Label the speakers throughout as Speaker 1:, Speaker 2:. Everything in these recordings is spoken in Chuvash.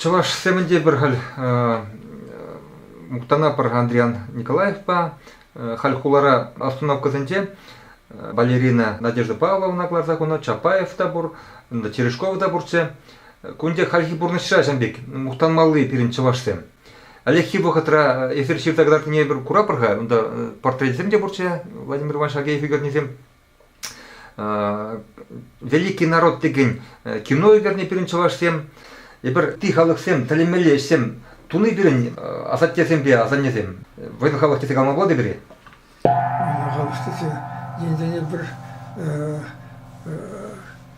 Speaker 1: Чӑвашсемӗн те пӗр халь мухтанатпӑр Андриян Николаевпа. Халь хулара остановкӑсенче балерина Надежда Павловна кӑларса хунӑ, Чапаев та пур, Терешков та пурччӗ. Кун пек хальхи пурнӑҫра ҫавӑн пек мухтанмалли пирӗн чӑвашсем. Ӗлӗкхи вӑхӑтра эсир ҫырса кӑтартнине эпир куратпӑр-ха, унта портретсем те пурччӗ Владимир Иванович Агеев ӳкернисем. Великий народ текен кино ӳкернӗ пирӗн чӑвашсем. Эпир ытти халӑхсем тӗлӗнмелле ӗҫсем туни пирӗн асаттесемпе асаннесем. Вӑйсӑр халӑх тесе калама пулать-и
Speaker 2: халӑх тесе енсене пӗр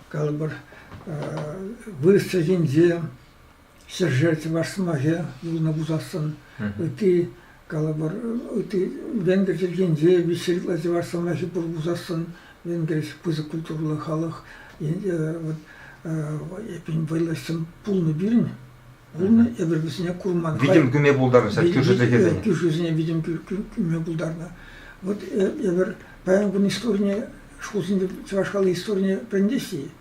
Speaker 2: калӑпӑр вырӑс чӗлхинче Сӗрше чӑваш сӑмахӗ юлнӑ пулсассӑн ытти калӑпӑр ытти венгр чӗлхинче виҫҫӗ ытла чӑваш сӑмахӗ пур пулсассӑн венгриш пысӑк культурӑллӑ халӑх вот эппин вӑйлӑхҫӑн пулнӑ пирӗн пулнӑ эпир вӗсене курман витӗм кӳме пултарнӑ
Speaker 1: кӳршӗ чӗлхесене кӳршӗсене витӗм
Speaker 2: кӳме пултарнӑ вот эпир паян кун историне шкулсенче чӑваш халӑх историне вӗрентеҫҫӗ-и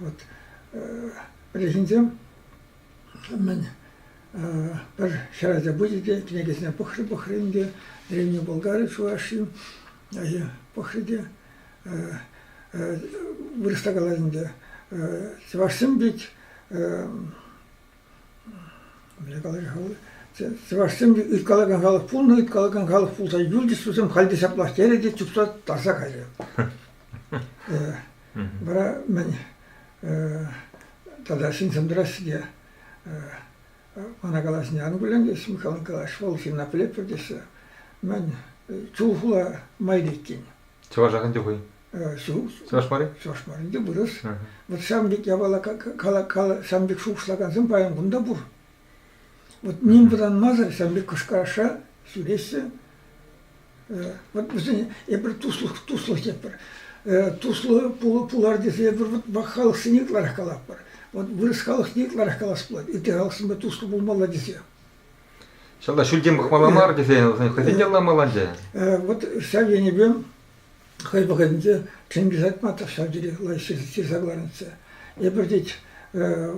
Speaker 2: вот пӗлӗхӗнсем мӗн пӗр ҫӗр ача пычӗ те кӗнекесене пӑхрӗ-пӑхрӗ ӗнтӗ Древний Болгари чӑвашҫин пӑхрӗ те вырӑсла калать ӗнтӗ чӑвашсем пек Мӗнле калаҫа-ха вӑл? Чӑвашсем ыйткалакан халӑх пулнӑ, ыйткалакан халӑх пулса юлчӗҫ халь те ҫаплах терӗ те чупса тарса кайрӗ. Вара мӗн тата ҫынсем тӑраҫҫӗ те мана калаҫни ан кулянтеш, Михал, калаҫ, вӑл ҫынна пӗлетпӗр теҫҫӗ. Мӗн, чул хула майри иккен. Чӑвашах ӗнтӗ
Speaker 1: хӑй. Чӑваш марин? Чӑваш марин те
Speaker 2: вырӑс. Вот ҫавӑн пек япала ҫавӑн пек шухӑшлакансем паян кунта пур. Вот ним вӑтанмасӑр ҫавӑн пек кӑшкараша ҫӳреҫҫӗ. Вот вӗсен эпир туслӑх туслӑх тетпӗр. Туслӑ пулар тесе эпир вот вак халӑхсене ытларах калатпӑр. Вот вырӑс халӑхне ытларах калас пулать, ытти халӑхсемпе туслӑ пулмалла тесе.
Speaker 1: Ҫавна ҫӳлтен пӑхмалла мар тесен хӑйсен те ламалланчӗ. Вот ҫав
Speaker 2: енӗпе Хӑй вӑхӑтӗнче тенкӗ сатма тӑрса тӳрех ҫырса кӑларнӑччӗ. Эпир тет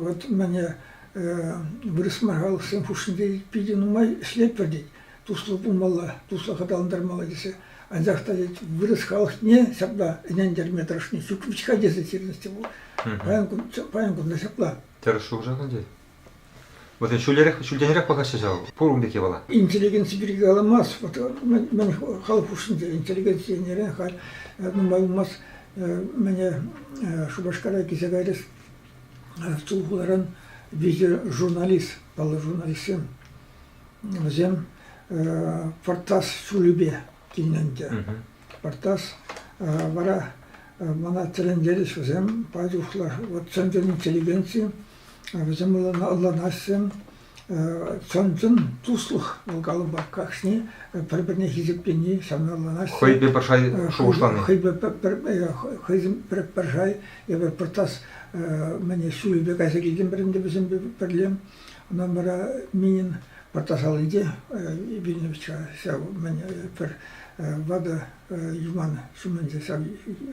Speaker 2: вот мӗне вырӑсма халӑхсем хушшинче питӗ нумай ӗҫлетпӗр тет. Туслӑ пулмалла, туслӑх аталантармалла тесе. Анчах та тет вырӑс халӑхне ҫапла ӗнентерме тӑрӑшни ҫук вӗт-ха тесе ҫырнӑччӗ вӑл. Паян кунта ҫапла. Тӗрӗс шухӑша кӗлтет.
Speaker 1: Вот ҫӳлерех, ҫӳлтенрех пӑхаҫҫӗ ҫав, пур ун пирки вала. Интеллигенци пирки
Speaker 2: каламас, вот мӗн халӑх хушшинче интеллигенцинерен халь нумай юлмасть мене Шупашкара килсе кайрӗс Тулхуларан виҫӗ журналист, паллӑ журналистсем, вӗсем Портас ҫулӗпе килнӗ ӗнтӗ. Портас вара мана тӗлӗнтерӗҫ вӗсем, пачух вот центр интеллигенции Вӗсем ӑнланаҫҫӗ. Чӑн-чӑн туслӑх вӑл калӑпа кашни пӗр-пӗрне хисеплени ҫавна ӑнланаҫҫӗ.
Speaker 1: Хӑйпе пӗр шай
Speaker 2: шухӑшлани. Хӑйпе пӗр пӗр шай эпӗ пӗр тас мӗне ҫуйӗпе кайса килтӗмӗрӗн те вӗсемпе пӗрле. Ӑна вара Минин пӗр тас аллинче Винничка ҫав мӗне пӗр ватӑ юман ҫумӗнче ҫав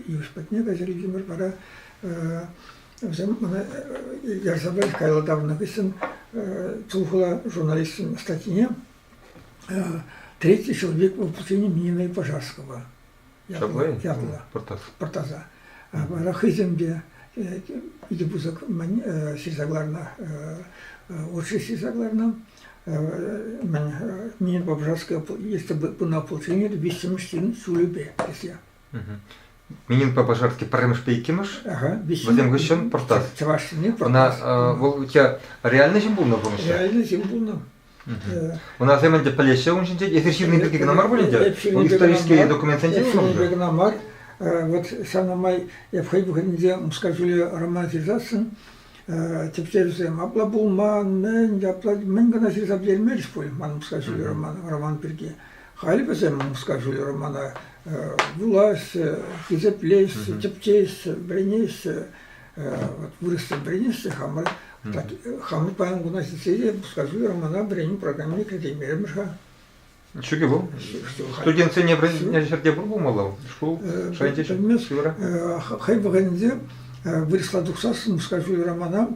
Speaker 2: йыш патне кайса килтӗмӗр вара Вӗсем ӑна ярса парӗҫ каялла таврӑннӑ хыҫҫӑн тухӑла журналистӑн статйине «Третий человек воплощения Мининой Пожарского» ятлӑ пӑртаса. Вара хӑйсем те икӗ пысӑк ҫырса кӑларнӑ, отши ҫырса кӑларнӑ. Минин Пожарского есть одно ополчение виҫҫӗмӗш ҫын ҫулӗпе тесе.
Speaker 1: Мининпа Пожарский пӗрремӗшпе иккӗмӗш. Вӗсем хыҫҫӑн Пӑртас. Чӑвашсене Пӑртас. Ӑна
Speaker 2: вӑл у тебя
Speaker 1: реальный ҫын пулнӑ пурнӑҫра? Реальный ҫын пулнӑ. Унасем ӗнтӗ пӗлеҫҫӗ ун ҫинче. Эсир ҫырнӑ пирки кӑна мар пулин те? Вӑл исторические документсенче ҫырнӑ. Эпир кӑна мар.
Speaker 2: Вот ҫавна май эп хӑй чухнӗнче Мускав ҫулӗ роман ҫырсассӑн тӗпчевсем апла пулман, мӗн, апла мӗн кӑна ҫырса пӗтермерӗҫ пуль ман Мускав ҫулӗ роман, роман пирки. Халь вӗсем Мускавшӑн романа вулаҫҫӗ, хисеплеҫҫӗ, тӗпчеҫҫӗ, вӗренеҫҫӗ. Вот вырӑссем вӗренеҫҫӗ хамӑр. Хамӑр паян куна ҫитсе те Мускавши романа вӗренӳ программине кӗртеймерӗмӗр-ха. Чӳкӗ
Speaker 1: вӑл? Студентсене вӗреннӗ ҫӗрте пур пулмалла шкул шайӗнче ҫук? Пӗлмест. Хӑй вӑхӑтӗнче
Speaker 2: вырӑсла тухсассӑн Мускавши романа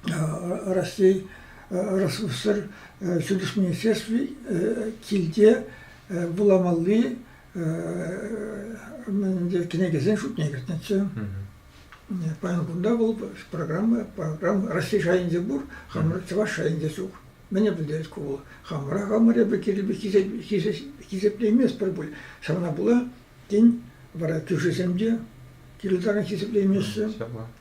Speaker 2: Раҫҫей Ресурслар ҫутӗҫ министерстви килте вуламалли кӗнекесен шутне кӗртнӗччӗ. Паян кунта вӑл программа, программа Раҫҫей шайӗнче пур, хамӑр чӑваш шайӗнче ҫук. Мӗне пӗлтерет ку вӑл? Хамӑра хамӑр эпӗ хисеплейместпӗр пуль. Ҫавна пула, тен, вара кӳршисем те кирлӗ таран хисеплеймеҫҫӗ.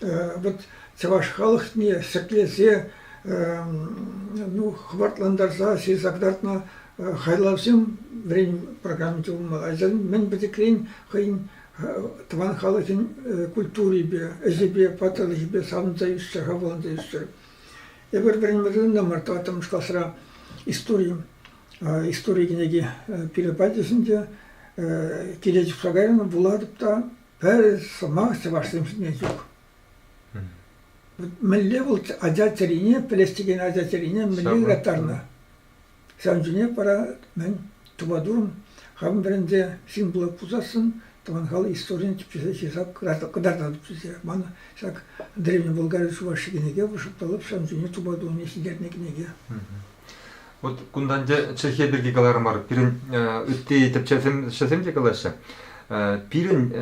Speaker 2: вот чӑваш халӑхне ҫӗклесе, ну, хӑвартлантарса ҫырса кӑтартнӑ хайлавсем вӗрен программи тупӑнмалла. Ачасен мӗн пӗчӗкрен хӑйӗн тӑван халӑхӗн культурипе, ӗҫӗпе, паттӑрлӑхӗпе савӑнса ӳссе, хавхаланса ӳссе. Эпир вӗренме мар тӑваттӑмӗш класра истори, истори кӗнеки пирӗн патӗшӗнче Кирилл чупса кайрӑн, вулатӑп та Пӗр сӑмах чӑвашсем ҫине ҫук. Мӗнле вӑл ача чӗрине, пӗлес текен ача чӗрине мӗнле ыраттарнӑ? Ҫавӑн чухне вара мӗн тупатурӑм хамӑн вӗренсе ҫын пулас пулсассӑн тӑван халӑх историйӗн тӗпчесе ҫырса кӑтартса тупсасе манӑ ҫак Древний Болгари Чувашии кӗнеке вӑшӑрталап ҫавӑн чухне тупатурӑмне ҫитернӗ кӗнеке.
Speaker 1: Вот кунтан те Чӗлхе пирки каларӑмӑр. Пирӗн ытти тӗпчевҫӗсем те калаҫҫӗ. Пирӗн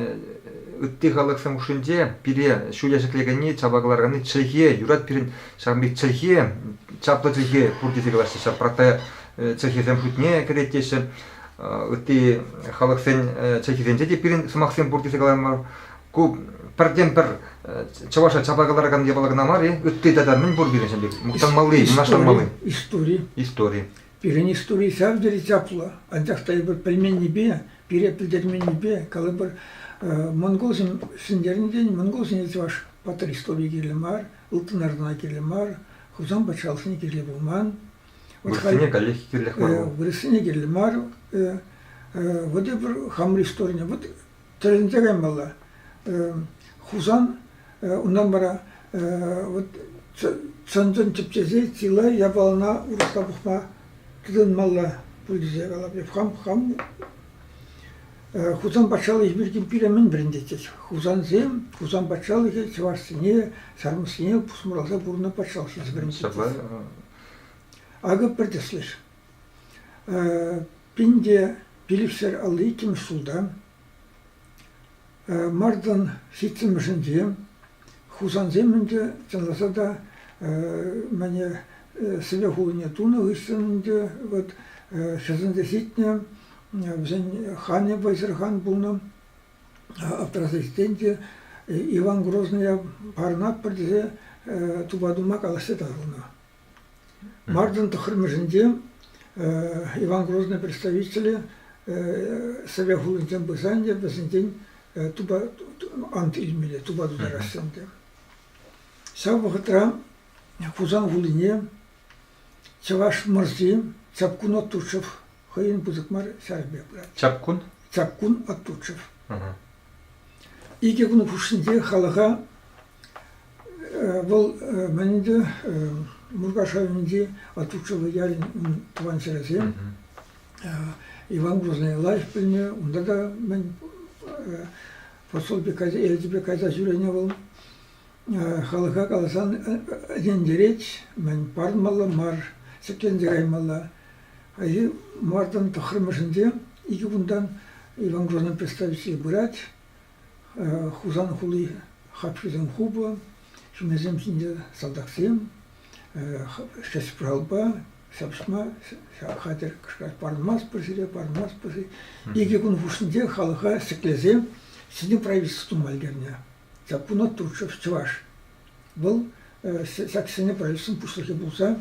Speaker 1: ытти халӑхсем хушшинче пире ҫуя ҫӗклекенни, чапа кӑларканни чӗлхе, юрать пирӗн ҫавӑн пек чӗлхе, чаплӑ чӗлхе пур тесе калаҫҫӗ. Ҫав протая чӗлхесем шутне кӗрет теҫҫӗ. Ытти халӑхсен чӗлхисенче те пирӗн сӑмахсем пур тесе каларӑмӑр. ку пӗртен-пӗр чӑваша чапа кӑларакан япала кӑна мар-и? Ытти тата мӗн пур пирӗн ҫемье? Мухтанмалли, мӑнаҫланмалли? Истори. Истори. Пирӗн
Speaker 2: истори ҫав тери чаплӑ. Анчах та эпир пӗлменнипе, пире пӗлтерменнипе калӑпӑр, монголсем ҫӗнтернӗрен монголсене чӑваш патыр историйӗ кирлӗ мар, ылтӑн арӑна кирлӗ мар, Хусан патшалӑхне кирлӗ пулман. Вырӑссене
Speaker 1: каллех кирлех мар. Вырӑссене кирлӗ мар.
Speaker 2: Вот эпир хамӑр историне, вот Тӗлӗнсе каймалла. Хусан унтан вара вот чӑн-чӑн тӗпчесе чылай япалана урӑхла пухма тытӑнмалла пуль тесе калап. Хам хам Хусан патшалӑхӗ пирки пире мӗн вӗрентетчӗҫ? Хусансем Хусан патшалӑхӗ чӑвашсене, ҫармӑссене пусмӑрласа пурӑннӑ патшалӑх тесе вӗрентетчӗҫ. Акӑ пӗр тӗслӗш. Пин те пилӗкшер алли иккӗмӗш ҫулта, мартӑн ҫиччӗмӗшӗнче, хусансем ӗнтӗ, чӑнласа та, мӗне Сӗве хулине тунӑ хыҫҫӑн ӗнтӗ вӑт хӗрсенсе ҫитнӗ, вӗсен ханӗ вӑйсӑр хан пулнӑ. Аптраса ҫитсен те Иван Грозная парӑнатпӑр тесе тупа тума калаҫса таврӑннӑ. Мартин тӑххӑрмӗшӗнче Иван Грозный представителӗ Совет хулинчен пырса ӗнтӗ вӗсенчен тупа ант илмелле, тупа тутараҫҫӗ ӗнтӗ. Ҫав вӑхӑтра Хусан хулине Чӑваш мӑрси Чапкун Оттучев хӑйӗн пысӑк мар ҫарӗпе пырать. Чапкун? Чапкун Оттучев. Икӗ кун хушшинче халӑха Вӑл мӗн ӗнтӗ Муркаш районӗнчи Атучелло ялӗн тӑван ҫӗрӗсем. Иван Грозный лаҫ пӗлнӗ, унта та мӗн посольпе кайса, элчӗпе кайса ҫӳренӗ вӑл. Халӑха каласан ӗнентерет, мӗн парӑнмалла мар, ҫӗкленсе каймалла. Хайхи мартӑн тӑххӑрмӗшӗнче икӗ кунтан Иван Грозный представитель пырать. Хусан хули хапхисем хупӑ, ҫумӗсем ҫинче салтаксем, шесправпа ҫапӑҫма хатӗр кӑшкӑрать. Парӑнмастпӑр сире, парӑнмастпӑр-и? Икӗ кун хушшинче халӑха ҫӗклесе ҫӗнӗ правительство тума ӗлкӗрнӗ. Саккуна Турчев чӑваш. Вӑл ҫак ҫӗнӗ правительствӑн пуҫлӑхӗ пулса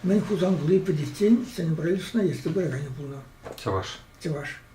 Speaker 2: мӗн Хусан хули пӗтиччен ҫӗнӗ правительствӑна ертсе пыраканӗ пулнӑ. Чӑваш. Чӑваш.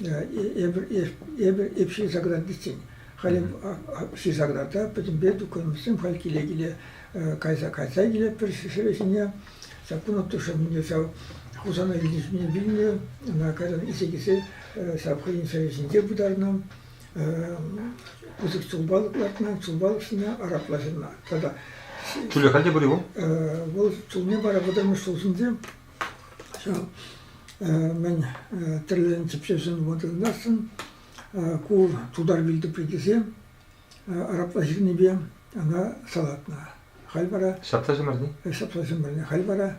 Speaker 2: Эпир эп ҫырсаградистен. Халӗ ҫырсаграда пӗтӗмпе духовниксем халь киле-киле кайса кайса килетпӗр ҫӗре ҫине. Саккун оттушӑмне ҫав Хусана илни ҫине вилнӗ, ӑна кайран илсе килсе ҫав хӑйӗн ҫӗрӗ ҫинче пытарнӑ. Пысӑк ҫулпалӑк лартнӑ, ҫулпалӑк ҫине арапла ҫырнӑ. Тата. Ҫулӗ халь те
Speaker 1: пур-и вӑл? Вӑл ҫулне
Speaker 2: вара вӑтӑрмӗш ҫул ҫинче Ҫав мӗн тӗрленӗ тӗпчевсем вӑхӑтӑнтассӑн ку тутар вилтӑприкӗсем арапла ҫырнипе ӑна салатнӑ. Халь вара Ҫапса ҫӗмӗрни?
Speaker 1: Ҫапса ҫӗмӗрни. Халь
Speaker 2: вара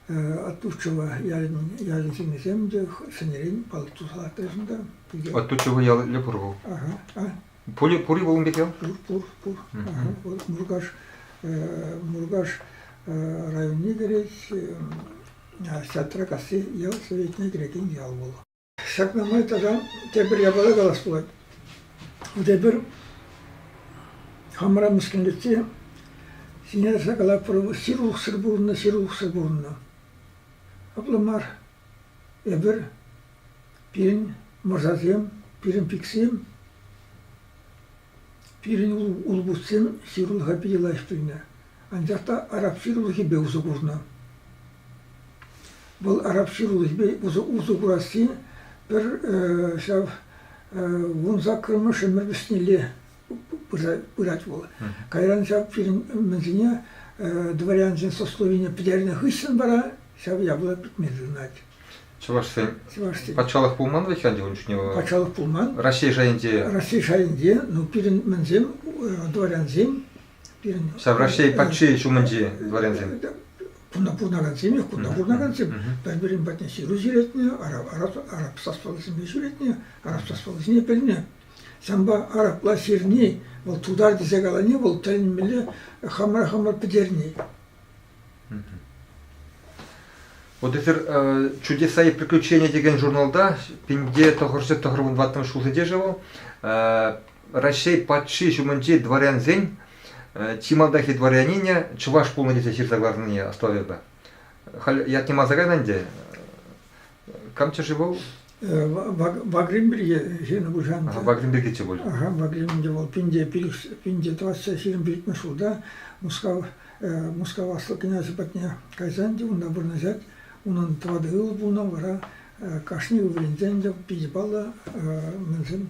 Speaker 2: Оттучево ялӗн ялӗн ҫыннисем те ҫӗнӗрен палӑк туса лартаҫҫӗ та. Оттучево
Speaker 1: ялӗ пур вӑл. Ага. А?
Speaker 2: Пури, пури пулӑм
Speaker 1: пеке요? Пур, пур, пур. Пур.
Speaker 2: Муркаш, Муркаш районне кӗрет Сатракасси ял советне кӗрекен ял вӑл. Ҫакна май тата тепӗр япала калас пулать. Тепӗр хамра мӗскӗнлетсе сине сакала пӑру сирлухсӑр пурӑннӑ, сирлухсӑр пурӑннӑ. Апла мар. Эпир Пирӗн мӑрсасем, пирӗн пиксем, пирӗн улпутсем ҫырлӑха питӗ лайӑх пӗлнӗ, анчах та араб ҫырлӑхӗпе усӑ курнӑ. Вӑл араб ҫырлӑхӗпе усӑ курасси пӗр ҫав вун саккӑрмӗш ӗмӗр вӗҫнелле пырать вӑл. Кайран ҫав пирӗн мӗнсене дворянсен сословине пӗтернӗ хыҫҫӑн вара ҫав яблоко пӗтме тытӑнать. Чӑвашсен,
Speaker 1: Чӑвашсен. патшалӑх пулман вӗт ӗнтӗ ун чухне? Патшалӑх пулман. Раҫҫей
Speaker 2: шайӗнче.
Speaker 1: Раҫҫей шайӗнче,
Speaker 2: ну пирӗн мӗнсем дворянсем пирӗн.
Speaker 1: Ҫав Раҫҫей патши ҫумӗнчи дворянсем. Кунта пурӑнакансем
Speaker 2: те, кунта пурӑнакансем пӗр-пӗрин патне ҫыру ҫӳретнӗ, араб, араб, араб сословисемпе ҫӳретнӗ, араб сословисене пӗлнӗ. Санпа арапла сирни вӑл тутар тесе калани вӑл тӗлӗнмелле хамӑра хамӑр пӗтерни.
Speaker 1: Вот эфир «Чудеса и приключения» текен журналта пинте тӑхӑрҫӑ тӑхӑрмӑн ваттӑмӗш ҫулсенче шел Раҫҫей патши ҫумӗнчи дворянсен чи малтанхи дворянине чӑваш пулнӑ тесе ҫырса кӑларнине астӑватӑп. Халь ятне манса кайнӑ ӗнтӗ. Кам чӗшӗ вӑл? Вагрим пирки
Speaker 2: ҫынӑ пушан. Ага, Вагрим пиркиччӗ пуль. Ага,
Speaker 1: Вагрим те вӑл
Speaker 2: пинте пинте тӑватса ҫирӗм пилӗкмӗш ҫулта Мускав Мускав аслӑ князӗ патне кайсан те унта вырнаҫать. Унӑн тӑватӑ ывӑл пулнӑ, вара кашни ывӑлӗнчен те питӗ паллӑ мӗншӗн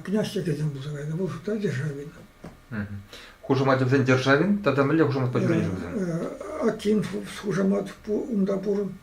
Speaker 2: князь чӗкӗсем пулса кайнӑ. Вӑл шутра Державин.
Speaker 1: Хушаматӗсен Державин тата мӗнле хушамат пачӗ вӗсем? Акин
Speaker 2: хушамат унта пур.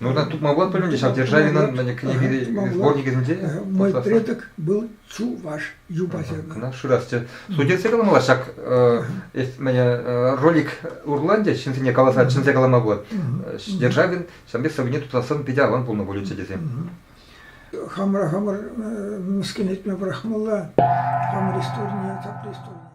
Speaker 2: Нужно тупмалла
Speaker 1: пуль ӗнтӗ ҫав Державинӑн кӗнеке сборникӗсенче? Мой предок
Speaker 2: был чуваш юпасем. Кӑна шырасчӗ.
Speaker 1: Судьясем каламалла ҫак ролик урланчӗ ҫынсене каласа чӗнсе калама пулать. Державин ҫампи сӑввине тутлассӑн питӗ аван пулнӑ пулӗччӗ тесем.
Speaker 2: Хамӑра хамӑр мӗскӗн этме пӑрахмалла, хамӑр исторне, тап исторне.